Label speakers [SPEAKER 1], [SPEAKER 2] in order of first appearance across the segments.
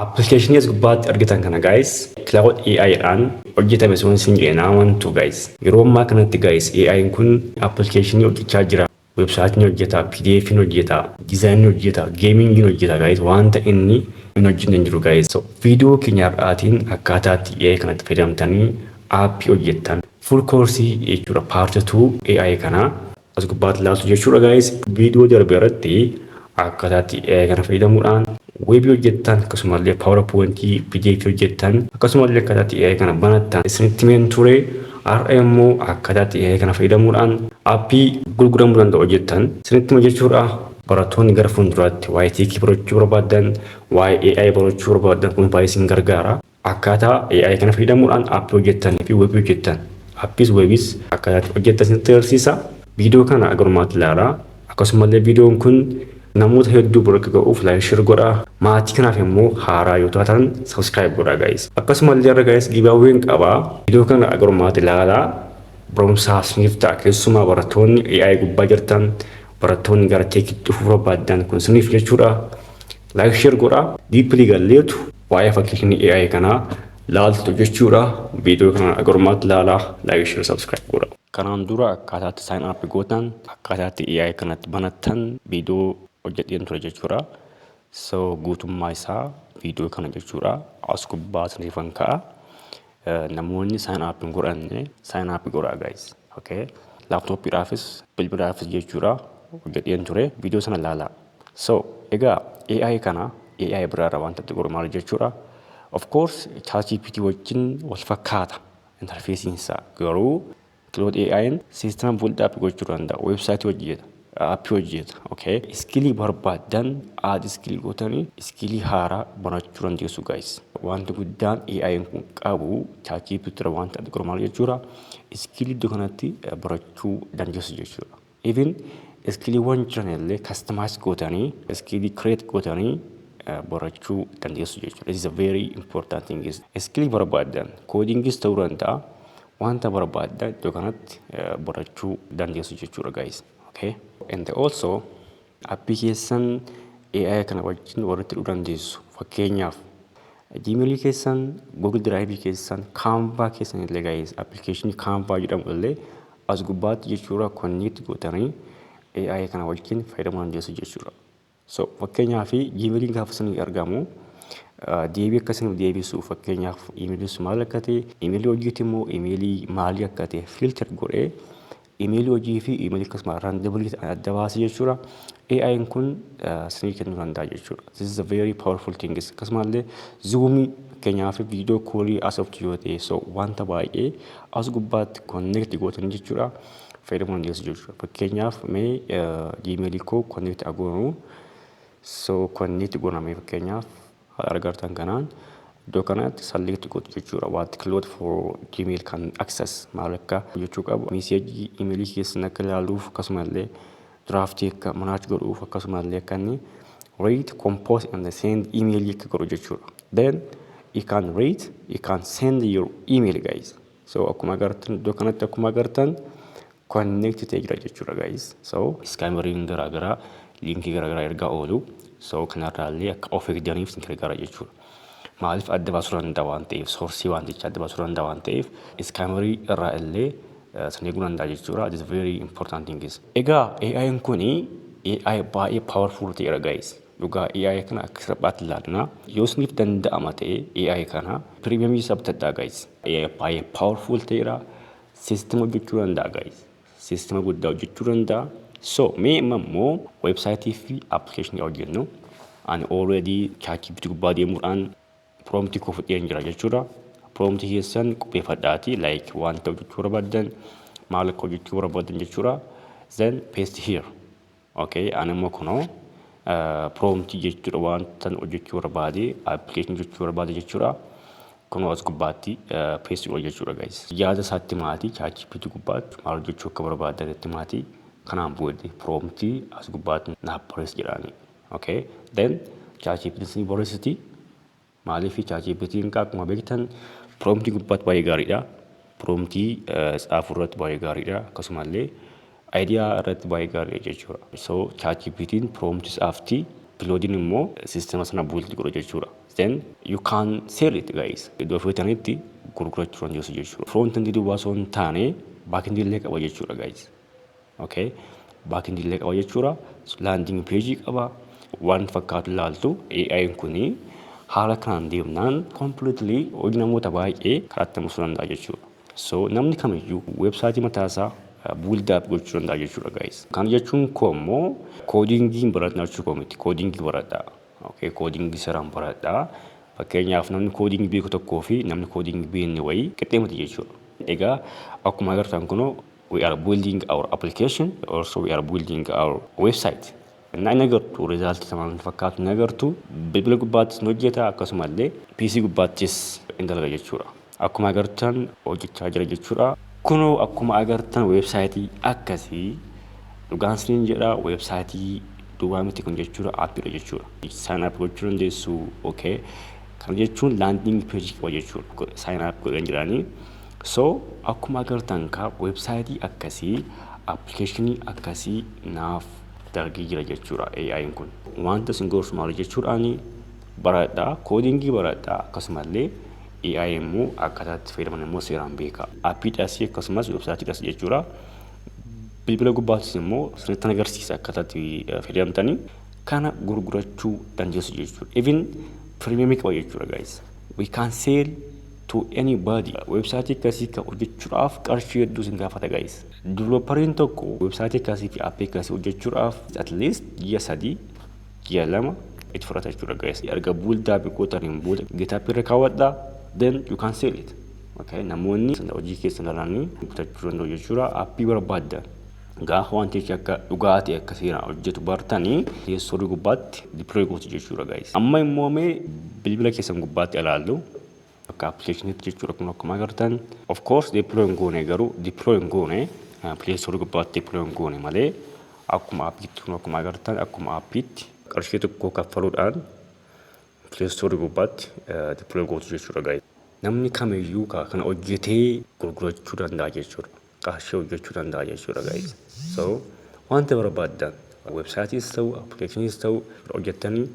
[SPEAKER 1] Application as gubbaatti argitan kana guys cloud AI dhaan hojjetame sun sin jedhe naa wantu guys yeroo ammaa kanatti guys AI kun application hojjechaa jira website ni hojjeta pdf ni hojjeta design ni hojjeta gaming ni hojjeta guys wanta inni hin hojjenne hin jiru guys so video keenya har'aatiin akkaataatti AI kanatti fayyadamtanii app hojjettan full course jechuudha part 2 AI kanaa As gubbaatti ilaaltu jechuudha gaayis viidiyoo darbe irratti akkataatti kana fayyadamuudhaan weebii hojjettan akkasumallee paawara poointii pdf hojjettan akkasumallee akkataatti AI kana banattan isinitti meen ture har'a immoo akkataatti AI kana fayyadamuudhaan appii gurguramuu danda'u hojjettan isinitti hima jechuudha barattoonni gara fuulduraatti waa'ee teekii barachuu barbaadan waa'ee AI barachuu barbaadan kun baay'ee isin gargaara Akkaataa AI kana fayyadamuudhaan appii hojjettanii fi webii hojjettan, appiis webiis akkaataa itti hojjettan isinitti agarsiisa. Viidiyoo kana hanga dhumaatti ilaalaa. Akkasumallee viidiyoon kun namoota hedduu bira akka ga'uuf like share godhaa. Maatii kanaaf immoo haaraa yoo taatan subscribe godhaa guys. Akkasumallee har'a guys giveaway'n qaba. Viidiyoo kana hanga dhumaatti ilaalaa. Barumsaa isiniif ta'a keessumaa barattoonni AI gubbaa jirtan, barattoonni gara teekitti dhufuu barbaaddan kun isiniif jechuudha. Like share godhaa. Deeply galleetu Waa'ee fakkiikni AI kanaa laaltu jechuudha. Viidiyoo kana agarummaatti laalaa, like, share, subscribe godha. Kanaan dura akkaataatti sign up gootan, akkaataatti AI kanatti banattan viidiyoo hojjedheen ture jechuudha. So guutummaa isaa viidiyoo kana jechuudha. As gubbaa isiniifan ka'a. Namoonni sign up hin godhanne sign up godhaa guys. Okay. Laptop dhaafis bilbilaafis jechuudha hojjedheen ture viidiyoo sana laalaa. So egaa AI kana AI biraarra wanta itti godhu maal jechuudha. Of course ChatGPT wajjin wal fakkaata interfeesiin isaa garuu Claude AI'n system build up gochuu danda'a. Website hojjeta. App hojjeta. Okay. Iskilii barbaadan add iskilii gootanii iskilii haaraa barachuu dandeessu guys. Wanti guddaan AI'n kun qabu ChatGPT irra wanta adda godhu maal jechuudha? Iskilii iddoo kanatti barachuu dandeessu jechuudha. Even iskiiliiwwan jiran illee customize gootanii iskiilii create gootanii barachuu dandeessu jechuudha. This is a very important thing. Iskiilii barbaaddan koodingis ta'uu danda'a wanta barbaaddan iddoo kanatti barachuu dandeessu jechuudha guys. Okay. And also appii keessan AI kana wajjin walitti hidhuu dandeessu. Fakkeenyaaf Gmail keessan, Google Drive keessan, Canva keessan illee guys application Canva jedhamu illee As gubbaatti jechuura connect gootanii AI kana wajjin fayyadamuu dandeessu jechuudha. So fakkeenyaaf Gmail'n gaafa isinii argamu deebii akka isinii deebisu fakkeenyaaf imeeliin sun maal akka ta'e imeelii hojiiti immoo imeelii maalii akka ta'e filter godhee imeelii hojii fi imeelii akkasuma randomly ta'an adda baasee jechuudha. AI'n kun isinii kennuu danda'a jechuudha. This is a very powerful thing. Akkasumallee zuumii fakkeenyaaf viidiyoo koolii asoftu yoo ta'e so wanta baay'ee As gubbaatti connect gootan jechuudha. Fayyadamuu dandeessu jechuudha. Fakkeenyaaf mee gmail koo connect agoonu. So connect goona mee fakkeenyaaf haala argartan kanaan iddoo kanatti select gootu jechuudha. What cloud for gmail kan access maal akka hojjechuu qabu. Miseejii imeelii keessan akka ilaaluuf akkasumallee draft akka match godhuuf akkasuma illee akka inni rate, compose and send email akka godhu jechuudha. Then you can rate, you can send your email guys. So akkuma agartan iddoo kanatti akkuma agartan connect ta'ee jira jechuudha guys. So scammeriin garaagaraa liinkii garaagaraa ergaa oolu. So kanarraa illee akka of eegdaniif isin gargaara jechuudha. Maaliif adda baasuu danda'a waan ta'eef soorsii waanticha adda baasuu danda'a waan ta'eef iskaamarii irraa illee san eeguu danda'a jechuudha. It is very important things. Egaa AI'n kun AI baay'ee powerful ta'eera guys. Dhugaa AI kana akka salphaatti ilaalina. Yoo isiniif danda'ama ta'e AI kana premium isaa bitadhaa guys. AI baay'ee powerful ta'eera. System hojjechuu danda'a guys. System guddaa hojjechuu danda'a. So mee amma immoo website fi application hojjennu. Ani already ChatGPT gubbaa deemuudhaan prompt koo fudheen jira jechuudha. Prompt keessan qopheeffadhaati like wanta hojjechuu barbaadan maal akka hojjechuu barbaadan jechuudha. Then paste here. Ok ani immoo kunoo prompt jechuudha wantan hojjechuu barbaade application jechuu barbaade jechuudha kunoo as gubbaatti paste godha jechuudha guys yaada isaatti maatii ChatGPT gubbaatti maal hojjechuu akka barbaadan itti maatii kanaan booda prompt as gubbaatti naaf barreessi jedhaani ok then ChatGPT ni barreessiti Maaliif ChatGPT'n akkuma beektan promptii gubbaatti baay'ee gaariidha. Promptii tsaafuu irratti baay'ee gaariidha. Akkasumallee idea irratti baay'ee gaariidha jechuudha. So ChatGPT'n promptii tsaafti Claude'n immoo sistema sana build godha jechuudha. Then you can sell it guys. Iddoo feetanitti gurgurachuu dandeessu jechuudha. Front end duwwaa osoo hin taane back end illee qaba jechuudha guys. Okay. Back end illee qaba jechuudha. Landing page qaba. Waan fakkaatu ilaaltu AI'n kuni haala kanaan deemnaan completely hojii namoota baay'ee karaatti hambisuu danda'a jechuudha. So namni kamiyyuu websaayitii mataasaa build up gochuu danda'a jechuudha guys. Kana jechuun koo immoo koodingiin baratna jechuu koo miti. Koodingii baradhaa. Okay. Koodingii seeraan baradhaa. Fakkeenyaaf namni koodingii beeku tokkoo fi namni koodingii beekne wayii qixxee miti jechuudha. Egaa akkuma agartan kunoo we are building our application also we are building our website እና hin agartu result isa maal fakkaatu hin agartu bilbila gubbaattis hin hojjeta akkasuma illee PC gubbaattis hin dalaga jechuudha akkuma agartan hojjechaa jira jechuudha kunoo akkuma agartan website akkasii dhugaan isiniin jedha website duwwaa miti kun jechuudha aappiidha jechuudha sign up gochuu dandeessu okay kana jechuun landing page qaba jechuudha sign up godhan jedhanii So akkuma agartan ka website akkasii application akkasii naaf dalgee jira jechuudha AI'n kun. Wanta isin gorsu maali jechuudhaani baradhaa koodingii baradhaa akkasumallee AI immoo akkaataa itti fayyadaman immoo seeraan beekaa. Appii dhasii akkasumas website dhasi jechuudha. Bilbila gubbaattis immoo sirriittan agarsiisa akkaataa itti fayyadamtanii kana gurgurachuu dandeessu jechuudha. Even premium qaba jechuudha guys. We can sell to any body website akkasii kan hojjechuudhaaf qarshii hedduu isin gaafata guys developeriin tokko website akkasii fi app akkasii hojjechuudhaaf at least ji'a sadii ji'a lama itti fudhata jechuudha guys erga buildaa biqootaniin booda gitaap irra kaawwadha then you can sell it okay namoonni hojii keessan ilaalanii bitachuu danda'u jechuudha appii barbaaddan Gaafa wantichi akka dhugaa ta'e akka seeraan hojjetu bartani teessorii gubbaatti deploy gootu jechuudha guys. Amma immoo mee bilbila keessan gubbaatti ilaallu akka appilikeeshiniitti jechuudha kun akkuma agartan. Of course deploy hin goone garuu deploy hin goone teessorii gubbaatti deploy hin goone malee akkuma appiitti kun akkuma agartan akkuma appiitti qarshii tokko kaffaluudhaan teessorii gubbaatti deploy gootu jechuudha guys. Namni kamiyyuu kana hojjetee gurgurachuu danda'a jechuudha. qarshii hojjechuu danda'a jechuudha guys. So wanta barbaaddan website'is ta'u application'is ta'u hojjettanii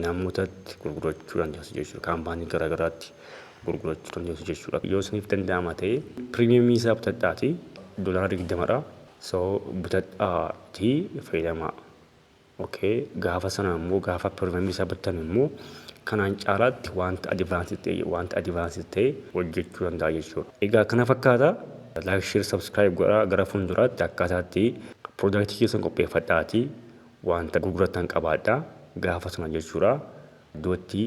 [SPEAKER 1] namootatti gurgurachuu dandeessu jechuudha. Kaampaanii garaa garaatti gurgurachuu dandeessu jechuudha. Yoo isiniif danda'ama ta'e premium isaa bitadhaatii doolaara 20dha. So bitadhaatii fayyadamaa. ok gaafa sana immoo gaafa pirogiraamii isaa battan immoo kanaan caalaatti wanta advanced ta'e wanta advanced ta'e hojjechuu danda'a jechuudha. Egaa kana fakkaata like share subscribe godhaa gara fuulduraatti akkaataatti product keessan qopheeffadhaati wanta gurgurattan qabaadhaa gaafa sana jechuudha iddootti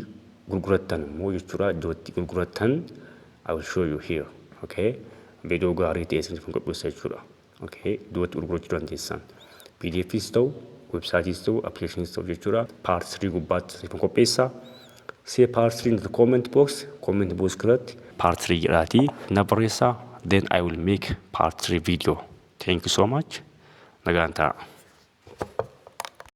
[SPEAKER 1] gurgurattan immoo jechuudha iddootti gurgurattan I will show you here okay video gaarii ta'e isiniif godhuusa jechuudha. Okay, duubatti gurgurachuu dandeessaan. PDFis ta'u, websaayitis ta'u, appilikeeshiniis ta'u jechuudha. Part 3 gubbaatti siif qopheessa. See part 3 in the comment box, comment box keessatti part 3 jedhaati na barreessa. Then I will make part 3 video. Thank you so much. Nagaan ta'a.